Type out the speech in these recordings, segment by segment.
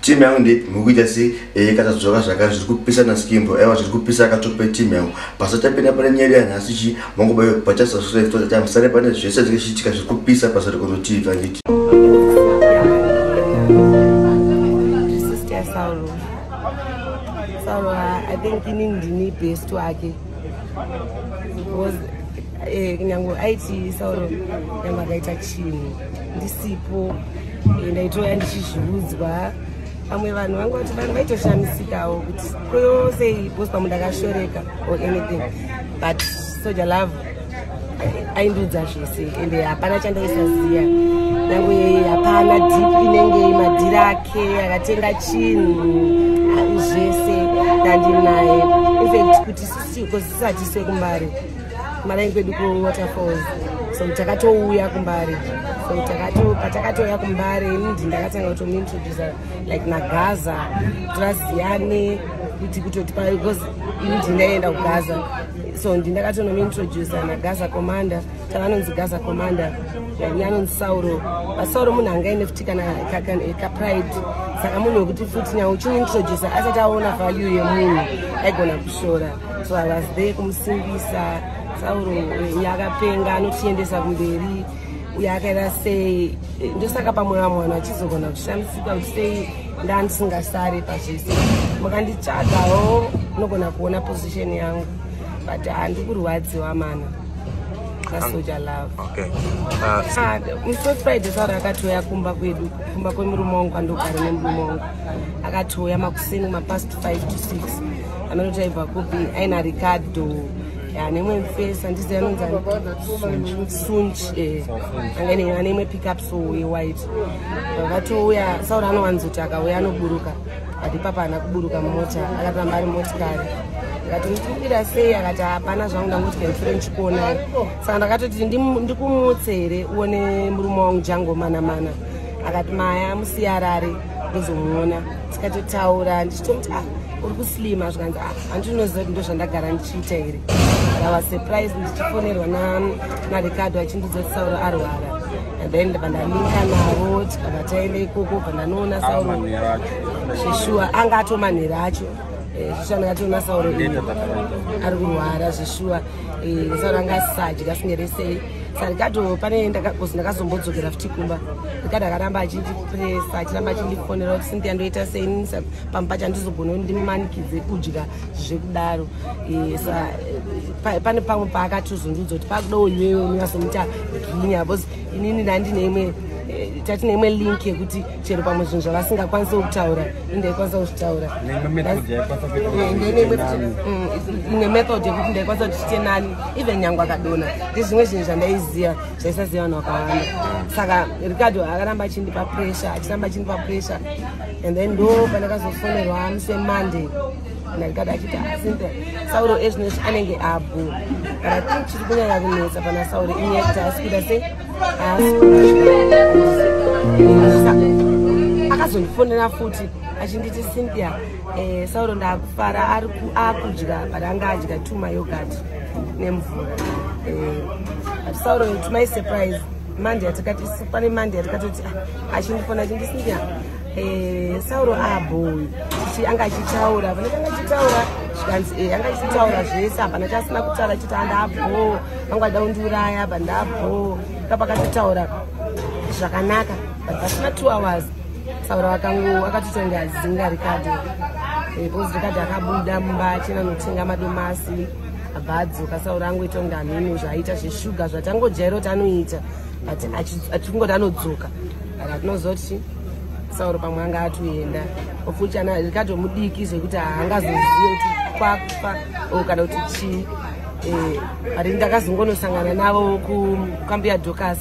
team yangu ndeipi mukuita sei ee eh, katadzoka zvakare zviri kupisa naskimbo aiwa zviri kupisa akatope team yangu pasatapinda pane nyaya yanhasi chi mangobayo pachasasreftotatime sare pane zvese zvinge chiitika zviri kupisa basa rekonotiv anditi Saul, Saul, I think ini ndini best wake. Eh, nyange aitiisauro nyange akaita chinhu ndisipo eh, ndaitouya ndichizviudzwa vamwe vanhu vangu vati vanhu vaitoshamisikawo kuti koyosei bospamu ndakashoreka or anything but soja love aindiudza zvese ende hapana chandaisaziva nangu yeye hapana dip inenge madhiri ake akatenga chinhu zvese ndandinaye infact kuti sisiko sisati sekumbare marayi kwedu kuwaterfalls so takatouya kumbare so patakatouya kumbare ndi ndakatanga kutomuintrodusa like nagaza tivaziyane kuti kutoti because ini ndindaenda kugaza so ndindakatonomuintroducer nagaza commander tavanonzi gaza commander vaive anonzi sauro vasauro munhu anga aine futi kana kapride saka munhu wekuti futi nyawo uchimuintroducer asati aona value yemunhu aigona kushora so i was there kumusimbisa sauro eh, yakapenga anotiendesa kumberi uye akaita sei eh, ndosaka pamwe vamwe vanhu vachizogona kushamisika kuti sei ndandisingasari pazvese makanditsvagawo unogona kuona position yangu but handi kurwadziwa mana kasoja love okay. uh, ah, mso friday sara akatouya kumba kwedu kumba kwemurume wangu kwandogara nemurume wangu akatouya makuseni mapast 5 to 6 anoti aibva kupi aina ricardo anemwe mfesi andizi anonzi sunch eh, anga ine imwe pickup so we white vatouya saura anowanzoti akauya anoburuka but ipapa haana kuburuka mumota akatamba ari motikari akati ndikubira sei akati hapana zvangu ndangoti kendifure ndichikuonai saka ndakatoti ndikumutse here uone murume wangu jango mana mana akati maya musiyarare ndozomuona tikatotaura ndichitomuti ah uri kuslima zvikanzi ah handinoziva kuti ndozvandagara ndichiita here ndava surprise ndichifonerwa na maricardo achindiudza kuti sauro arwara and then pandaninga navo tikabva taenda ikoko pandanoona sauro zveshuwa anga atomanhero acho eh, zvishana yatoona sauro iyo ari kurwara zveshuwa eh, sauro anga asisadya asingeresei sarikato pane ndakakozi ndakazombodzokera futi kumba rikati akaramba achindipresa achiramba achindifonera kuti sindiya ndoita sei pamba pacho andizogona ndimanikidze kudya zvekudaro eh, eh, pane pamwe paakatozondudza kuti pakuda uyiwewe unyasomuita ginya bcause inini ndandine imwe eh, tatine imwe link yekuti chero pamwe zvinhu zvavasingakwanise kutaura indaikwanisa kuzvitaura ine method yekuti ndaikwanisa kuti chite nani even nyange akadona ndezvimwe zvinhu zvandaiziva zvaisaziva vanhu vakawanda saka ricardo akaramba achindipa pressure achiramba achindipa pressure and then ndo pandakazofonerwa musi wemonday ndandikada achiti asimpe ah, sauro ezvino izvi anenge abhu but i think chiri kunyanya kunetsa pana sauro inyekti asi kuda se akazondifonera futi achinditi cynthia eh, sauro ndaakufara akudya but anga adya two mayogat nemvura eh, but sauro to my surprise mande yatikati pane mande yatikatoti ah, achindifona achindisinya eh, sauro aboi chichi anga achitaura pane kanga achitaura zvikanzi eh, anga achitaura zvese hapana chasina kutaura chiti andabhoo vanga vada kundiuraya apa ndabhoo kapakatotaura zvakanaka but pasina two hours sauro akango akatotonga zinga rikadi eh, bhozi rikadi akabuda mumba achina notenga madomasi abva adzoka sauro angoita kunga mhinu zvaiita zveshuga zvatangojairo tanoita but atikungoti anodzoka but atinozoti sauro pamwe anga atoenda ofuti ana rikato mudiki zvekuti haangazozive kuti kwakufa o kana kuti chii eh, but ndakazongonosangana navo kukambuya docas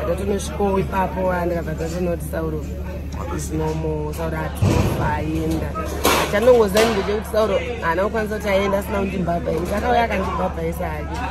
ndatonosvikowo ipapo andikabva ndatonoti sauro is normal sauro atofa aenda chanongoziva ndechekuti sauro haana kukwanisa kuti aenda asina kundibhabhaisa akauya akandibhabhaisa hake